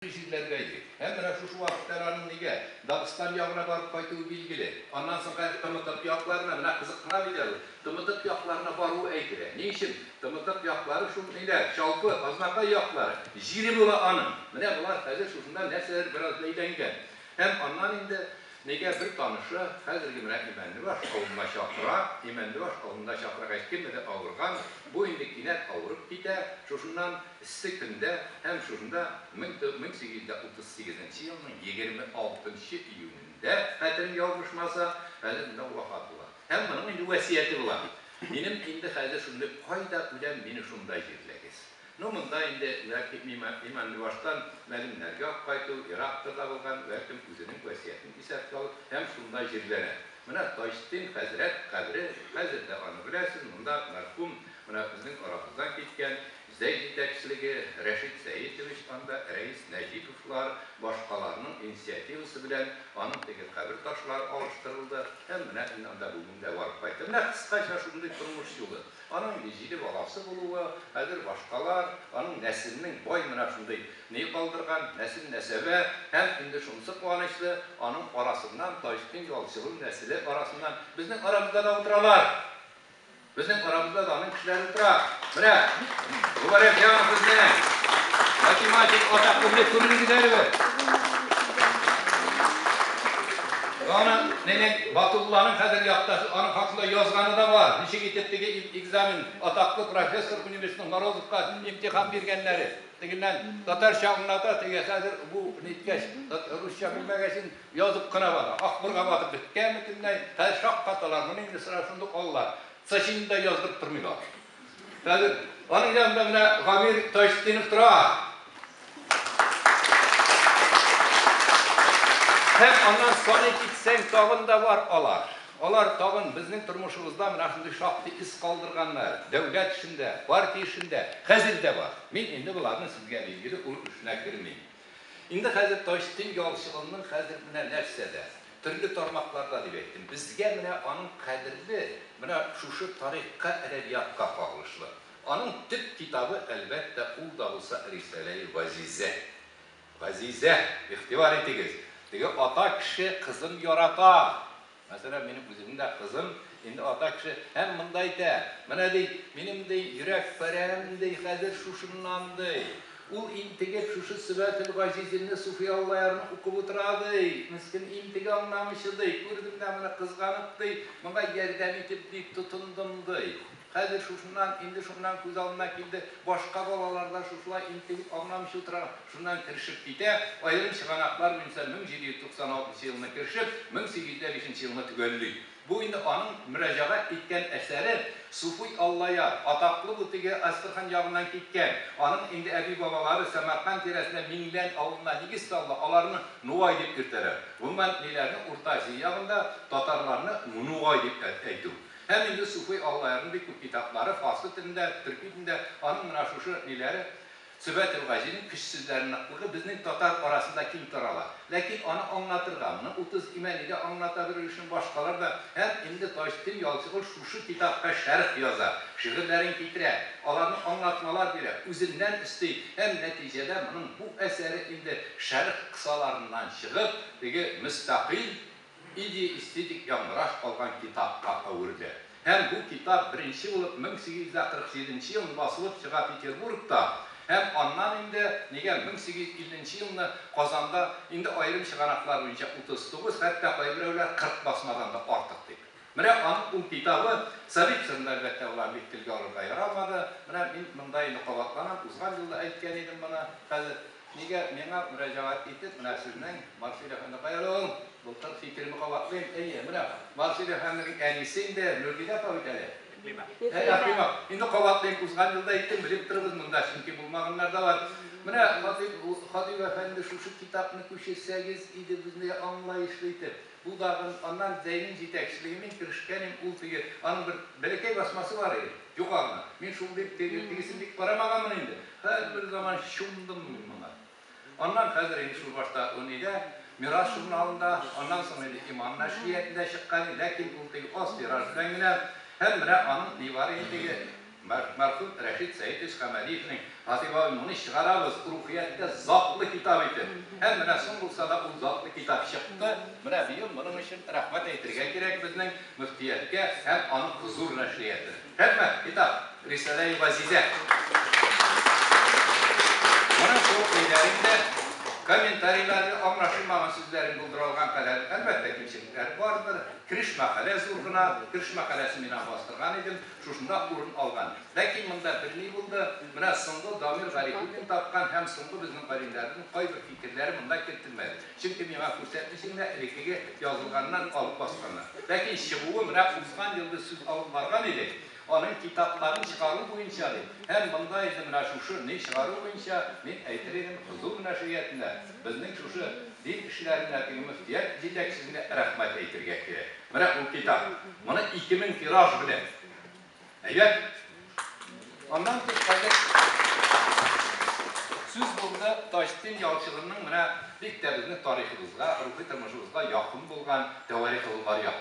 Ни җирләргә йөри һәм менә шушы вакытта әле аның нигә Дагыстан ягына барып кайтуы билгеле. Аннан соң хәзер Тымытык якларына, менә кызыксына бит әле ул, Тымытык якларына баруы әйтелә. Ни өчен? Тымытык яклары шул ниләр, Чалпы, Азнакай яклары. Җире була аның. Менә болар хәзер шушында нәрсәдер бераз бәйләнгән. Һәм аннан инде нигә бер танышы хәзерге менә Имәнлебаш авылына чакыра, Имәнлебаш авылында чакыргач, кемнедер авырган, бу инде кинәт авырып китә, шушыннан, Эссе көндә һәм шушында мең сигез йөз дә утыз сигезенче елның егерме алтынчы июнендә, хәтерем ялгышмаса, хәзер монда вафат була. Һәм моның инде вәсияте була. Минем инде хәзер шундый, кайда үләм, мине шунда җирләгез. Ну, монда инде, бәлки, Иманлыбаштан мәгеньнәргә үк кайту ерактыр да булган, бәлкем, үзенең вәсиятен исәпкә алып һәм шунда җирләнә. Менә Таҗтдин хәзрәт кабере, хәзер дә аны беләсез, монда мәрхүм, менә безнең арабыздан киткән, Зәй җитәкчелеге, Рәшит Сәетович анда Рәис Нәҗиповлар, башкаларның инициативасы белән аның теге кабер ташлары алыштырылды һәм менә мин анда бүген дә барып кайттым. Менә кыскача шундый тормыш юлы. Аның инде җиде баласы булуы, хәзер башкалар, аның нәселнең бай менә шундый ни калдырган, нәсел-нәсәбә һәм инде шунысы куанычлы, аның арасыннан Таҗетдин Ялчылу нәселе арасыннан безнең арабызда да утыралар. Безнең арабызда да аның кешеләре утыра. Менә Мубарәк җан безнең математик атак күңеле күрдегез әле. Аны менен Батулланың хәзер яктасы, аның хакында язганы да бар. Ничек итеп теге экзамен атаклы профессор университетның Морозовка имтихан биргәннәре. Тегеннән татарча аңлата, теге хәзер бу ниткәч, русча белмәгәчен, Язып кына бара. Акбурга батып беткән бөтенләй. Хәзер шаккаталар, моны инде сыра шундук алалар. Цачинны да яздырып тормыйлар. Хәзер аның янында менә Гамир Таҗетдинов тора. Һәм аннан саный китсәң, тагын да бар алар. Алар тагын безнең тормышыбызда менә шундый шактый эз калдырганнар, дәүләт эшендә, партия эшендә. Хәзер дә бар. Мин инде боларның сезгә билгеле ул эшенә кермим. Инде хәзер Таҗтдин ялчылыгының хәзер менә нәрсәдә, төрле тармакларда дип әйттем. Безгә менә аның кадерле менә шушы тарихка, әдәбиятка кагылышлы. Аның төп китабы, әлбәттә, ул да булса Рисаләи газизә. Газизә, игътибар итегез, теге ата кеше кызын ярата, Мәсәлән, минем үземнең дә кызым инде ата кеше һәм монда әйтә, Менә, ди, минем, ди, йөрәк парәм, ди, хәзер шушыннан, ди. Ул интегеп шушы Сөбател-газизелне Суфи Аллаярның укып утыра, ди. Мескен интеге аңламыйча, ди. Күрдем дә моны, кызганып, ди, моңа ярдәм итеп, ди, тотындым, ди. Хәзер шушыннан, инде шуннан күз алдына килде, башка балалар да шушылай интегеп аңламыйча утыра, шуннан керешеп китә, аерым чыганаклар буенча 1796 елны керешеп, 1805 елны төгәлли. Бу инде аның мөрәҗәгать иткән әсәре Суфый Аллаяр, атаклы бу теге Әстерхан ягыннан киткән, аның инде әби-бабалары Сәмәрканд тирәсендә Миңлән авылына нигез салды, аларны Нугай дип йөртәләр. Гомумән, ниләрне Урта Азия ягында татарларны Нугай дип әйтү. Һәм инде суфи Аллаярның бик күп китаплары, фарсы телендә, төрки телендә, аның менә шушы ниләре, Сөбәтел Газинең көчсезләр ныклыгы безнең татар арасында киң тарала. Ләкин аны аңлатырга, моны Утыз имәни дә аңлата бер өлешен, башкалар да. Һәм инде Таҗтдин Ялчыгол шушы китапка шәрх яза, шигырьләрен китерә, аларны аңлатмалар бирә, үзеннән өсти һәм нәтиҗәдә моның бу әсәре инде шәрх кысаларыннан чыгып, теге мөстәкыйль Идея эстетик яңгыраш алган китапка әверде һәм бу китап беренче булып 1847 нче елны басылып чыга Петербургта һәм аннан инде нигә 1850 нче елны Казанда инде аерым чыганаклар буенча 39, хәтта кайберәүләр 40 басмадан да артык дип Менә аның ул китабы Царицынны, әлбәттә, алар бит телгә алырга ярамады. Менә мин монда инде кабатланам, узган юл да әйткән идем моны. Хәзер нигә миңа мөрәҗәгать итеп, менә сезнең Марсель әфәнде каядыр ул? Былтыр фикеремне кабатлыйм. Әйе, менә Марсель әфәнденең әнисе инде Нургилә апа бит әле. Әй, Әкрим ап, инде кабатлыйм, узган юл да әйттем, белеп торыгыз, монда чөнки булмаганнар да бар. Менә Хатыйп, Хатыйп әфәнде, шушы китапны күчерсәгез иде безнең аңлаешлы итеп. Кудагым, аннан Зәйнин җитәкчелеге, мин керешкәнем, ул теге, аның бер бәләкәй басмасы бар иде, юк аңа. Мин шул дип, теге, тегесен бик карамаганмын инде. Һәрбер заман чумдым мин моңа. Аннан хәзер инде шул башта Унидә, Мирас журналында, аннан соң инде Иман нәшриятында чыккан иде, ләкин ул теге аз тираж белән генә, һәм менә аның нибары инде теге, Мәрхүм Рәшит Сәетович Камалиевнең Фатыйма-ул-Муниз чыгарабыз, Рухияттә затлы китап итеп. Һәм менә соң булса да ул затлы китап чыкты. Менә быел моның өчен рәхмәт әйтергә кирәк безнең мөфтияткә һәм аның хозур нәшриятына. Рәхмәт, китап, Рисаләи газизә. Моның шул көйләрен дә, комментарийларны, аңлашылмаган сүзләрен булдыра алган кадәр, әлбәттә, кимчелекләре бардыр. Кереш мәкалә зур гына. Кереш мәкаләсен мин аңа бастырган идем. Шушында урын алган. Ләкин монда белми булды, менә соңгы Дамир Гарифуллин тапкан һәм соңгы безнең галимнәрнең кайбер фикерләре монда кертелмәде. Чөнки миңа күрсәтмисең дә, элеккеге язылганнан алып басканнар. Ләкин чыгуы менә узган ел без сүз алып барган идек, аның китапларын чыгару буенча дип. Һәм монда инде менә шушы не чыгару буенча, мин әйтер идем, кызу мөнәшәятендә безнең шушы дин эшләрендә теге мөфтият җитәкчесенә рәхмәт әйтергә кирәк. Менә ул китап. Моны ике мең тираж белән. Әйбәт. Аннан тыш әле сүз булды Таҗтдин Ялчылының менә бик тә безнең тарихыбызга, рухи тормышыбызга якын булган Тәварихы Болгария.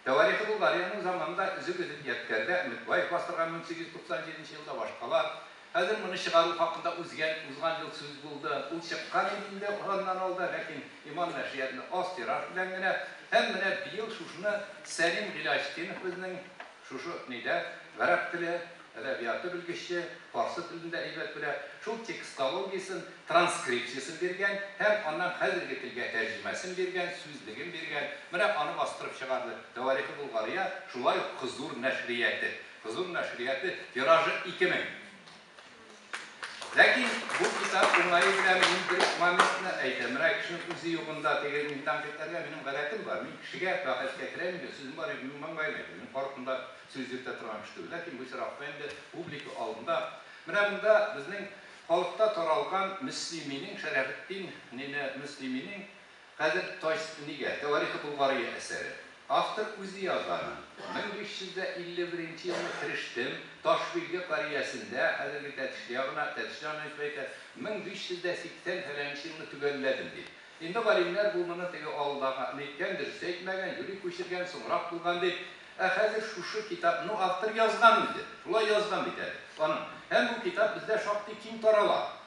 Тәварихы Болгариянең заманында өзек-өзек ядкәрдә Өметбаев бастырган 1897 елда башкалар, Хәзер моны чыгару хакында узгән, узган ел сүз булды. Ул чыккан иде инде аннан алда, ләкин Иман нәшриятында аз тираж белән генә. Һәм менә быел шушыны Сәлим Гыйләҗтдинов безнең шушы нидә, гарәп теле, әдәбияты белгече, фарсы телен дә әйбәт белә, шул текстологиясен, транскрипциясен биргән һәм аннан хәзерге телгә тәрҗемәсен биргән, сүзлеген биргән. Менә аны бастырып чыгарды. Тәварихы Болгария, шулай ук Кызур нәшрияте. Кызу нәшрияты, тиражы ике мең. Ләкин бу китап уңае белән мин бер моментны әйтәм. Менә кешенең үзе югында теге мин тәнкыйтьләргә минем гадәтем бар. Мин кешегә бәхәскә керәм инде, сүзем бар инде, мин маңгаен әйтәм. Мин каршымда сүз йөртә торган кеше түгел. Ләкин бу очракта инде публика алдында. Менә монда безнең халыкта таралган Мөслиминең, Шәрәфетдин нене Мөслиминең Хәзер Таҗ нигә, Тәварихы Болгария әсәре. Автор үзе язганын. 1551 елны керештем, Ташбилге кариясендә, хәзерге Тәтешле ягына, Тәтешле анаитеп әйтә, 1580 фәләнче елны төгәлләдем, дип. Инде галимнәр бу моны теге алдагы ны әйткән, дөрес әйтмәгән, юри күчергән, соңрак булган, дип. Ә хәзер шушы китап, ну, автор язган үзе, шулай язган бит әле, аның. Һәм бу китап бездә шактый киң тарала.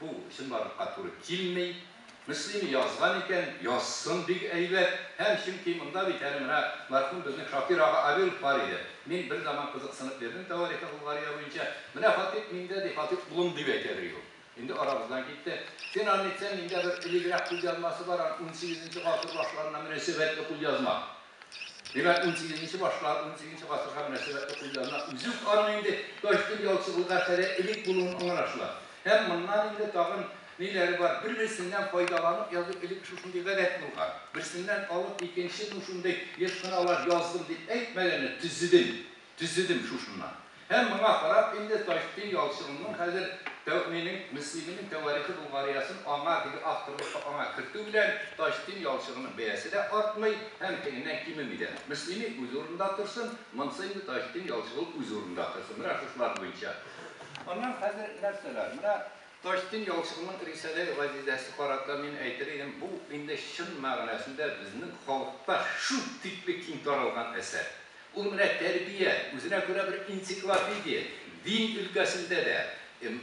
Бу чынбарлыкка туры килми. Мөслими язган икән, язсын, бик әйбәт. Һәм чөнки монда бит әле менә мәрхүм безнең Шакир ага Авилов бар иде. Мин бер заман кызыксынып йөрдем тәварихы Болгария буенча. Менә Хатыйп миндә, ди, Хатыйп улым дип әйтә бирде ул. Инде арабыздан китте. Син аны әйтсәң, миндә бер элегрәк кулъязмасы бар, аны унсигезенче гасыр башларына мөнәсәбәтле кулъязма. Димәк, унсигезенче башлар, унсигезенче гасырга мөнәсәбәтле кулъязма үзе үк аның инде Таҗетдин Ялчыгулы гафәре элек булуын аңлашыла. Һәм моннан инде тагын ниләре бар, бер-берсеннән файдаланып язу элек шушындый гадәт булган. Берсеннән алып икенче ну шундый еш кына алар яздым дип әйтмәгәннәр, төзедем, Төзедем шушыннан. Һәм моңа карап инде Таҗетдин Ялчыгунның хәзер Тәүминең, Мөслиминең Тәварихы Болгариясен аңа, теге авторлыкка аңа кертү белән Таҗетдин Ялчыгунның бәясе дә артмый һәм тегеннән кимеми дә. Мөслими үз урынында торсын, монысы инде Таҗетдин Ялчыгун үз урынында торсын. Менә шушылар буенча. Аннан хәзер нәрсәләр? Менә Таҗетдин Ялчыгунның Рисаләй Газизәсе карата мин әйтер идем, бу инде чын мәгънәсендә безнең халыкта шул тикле киң таралган әсәр. Ул менә тәрбия, үзенә күрә бер энциклопедия, дин өлкәсендә дә,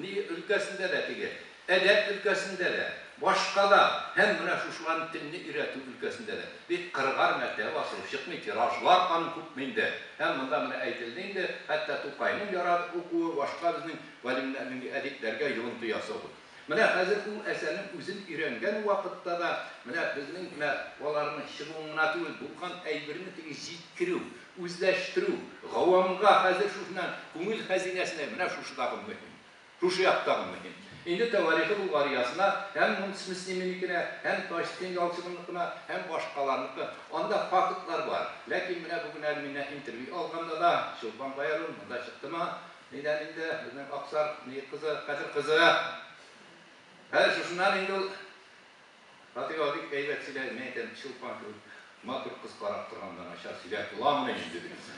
ни өлкәсендә дә теге, әдәп өлкәсендә дә, башка да, һәм менә шушыларны телне өйрәтү өлкәсендә дә. Бит кырыгар мәртәбә асылып чыкмый, тиражлар аның күпме инде. Һәм монда менә әйтелде инде, хәтта Тукайның ярат укуы, башка безнең галимнәрнең, әдипләргә йогынты ясау бу. Менә хәзер ул әсәрнең үзен өйрәнгән вакытта да, менә безнең генә аларның чыгуын гына түгел, булган әйберне теге җиткерү, үзләштерү, гавамга хәзер шушына, күңел хәзинәсенә менә шушыдагы мөһим, шушы яктагы мөһим. Инде Тәварихы Болгариясына һәм Мунц Мөслиминекенә, һәм Таҗетдин Ялчыгыныкына, һәм башкаларныкы, анда фактлар бар. Ләкин менә бүген әле миннән интервью алганда да, Чулпан Гаяруллина монда чыктымы, Әйдә инде, безнең Аксар бөек кызы, Хәтер кызы. Хәер, шушыннан инде ул Фатыйга бик әйбәт сөйләде, мин әйтәм, Чулпан кебек матур кыз карап торганда начар сөйләп буламыни инде, дидем.